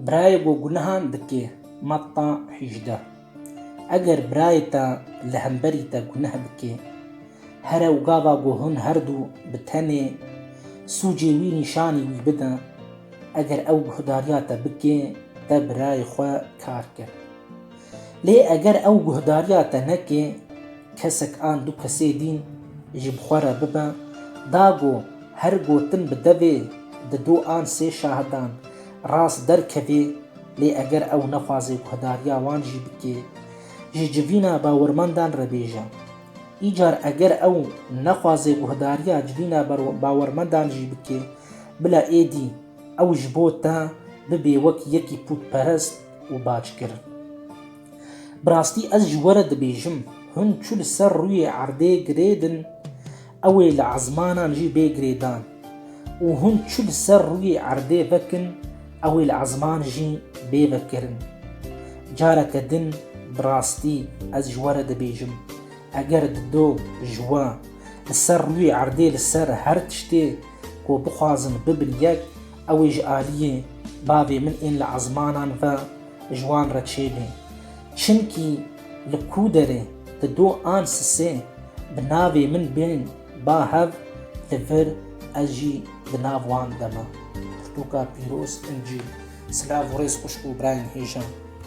Birayê ku gunehan dike, Matta hîjdeh. Eger birayê te li hemberî te guneh bike, here û gava ku hûn her du bi tenê sûcê wî nîşanî wî bide, eger ew guhdariya te bike, te birayê xwe kar kir. Lê eger ew guhdariya te neke, kesek an du kesê dîn ji bi xwe re bibe, da ku her gotin bi devê di du an sê şahidan rast derkevê, lê eger ew nexwaze guhdariya wan jî bike, ji civîna bawermendan re bêje. Îcar eger ew nexwaze guhdariya civîna bawermendan jî bike, bila êdî ew ji bo te bibê wek yekî pûtperest, û bac kir. Bi rastî ez ji we re dibêjim, hûn çû li ser rûyê erdê girê din, ew ê li ezmanan jî bê girê dan û hûn çû li ser rûyê erdê vekin, ew ê li ezman jî bê vekirin. Careke din bi rastî ez ji we re dibêjim, eger di do ji we li ser rûyê erdê li ser her tiştê ku bixwazin bibin yek, Ew ê ji aliyê bavê min ên li ezmanan ve ji wan re çêbê. Çimkî li ku derê di do an sisê bi navê min bên ba hev li vir ez jî di nav wan de me. Pirtûka pîroz, Încîl. Silav û rêz xwişk û birayên hêja.